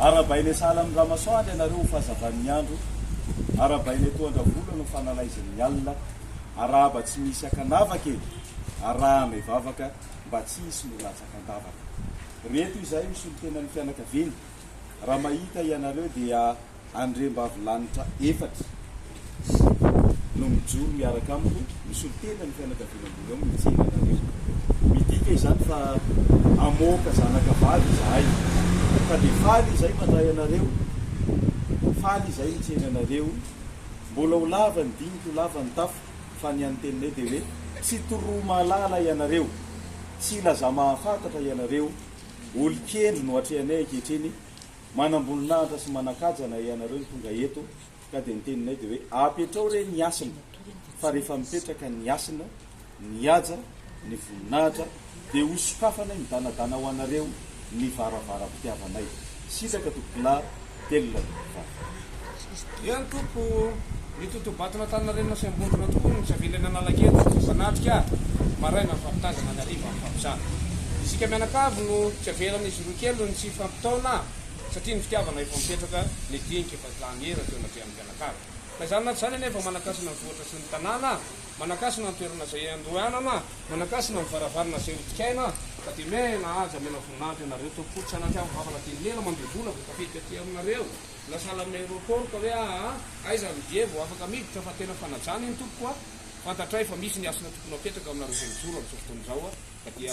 Arabainay sahala amin'ny ramasoandro ianareo ho fahazavan'ny andro, arabainay toa an-dravoloana ho fanalaizin'ny alina, arahaba tsy misy an-kanavaka e! arahanay vavaka mba tsy hisy no latsaka an-davaka. Reto izahay misolo tena ny fianakaviana, raha mahita ianareo dia. Andriambavilanitra efatra sy no mijoro miaraka amiko misolo tena ny fianakaviana ambony ao mijery anareo. Midika izany fa hamoaka zanaka vavy izahay ka dia faly izay mandray anareo, faly izay mijery anareo. Mbola ho lava ny dinika, ho lava ny tafika fa ny an'ny teninay dia hoe tsy toromahalala ianareo, tsy ilazamahafantatra ianareo, olon-kendry no atrehanay ankehitriny Manamboninahitra sy manakaja anay ianareo ny tonga eto ka dia ny teninay dia hoe apetrao re ny hasina fa rehefa mipetraka ny hasina, ny haja, ny voninahitra dia ho sokafanay midanadana ho anareo ny varavaram-pitiavanay. Sitraka tompokolahy, Telina tompokolahy. Eny tompoko o! Ny totobato natanin'Arenina sy Ambondrona tokoa no nisavian'ilay nanalaky eto fa zanatrika maraina mifampitazana ny hariva mifampizara. Isika mianakavy no tsy avelan'izy roa kely ny tsy hifampitaona satria ny fitiavana efa mipetraka nidinika efa lany ela teo anatrehan'ny mpianakavy. Na izany na tsy izany anie fa manankasina ny vohitra sy ny tanàna, manankasina ny toerana izay andohanana, manankasina ny varavarana izay hodikaina, ka dia miaina haja mena voninahitra ianareo tompoko o! Tsy anatrehan'ny vava na dia ny lela mandoa vola vao tafiditra aty aminareo. Na sahala amin'ny aéroport ka hoe aa aiza ny billet vao afaka miditra fa tena fanajana iny tompoko a! Fantatray fa misy ny hasina tokony hapetraka aminareo zay mijoro amin'izao fotoana izao a! Ka dia.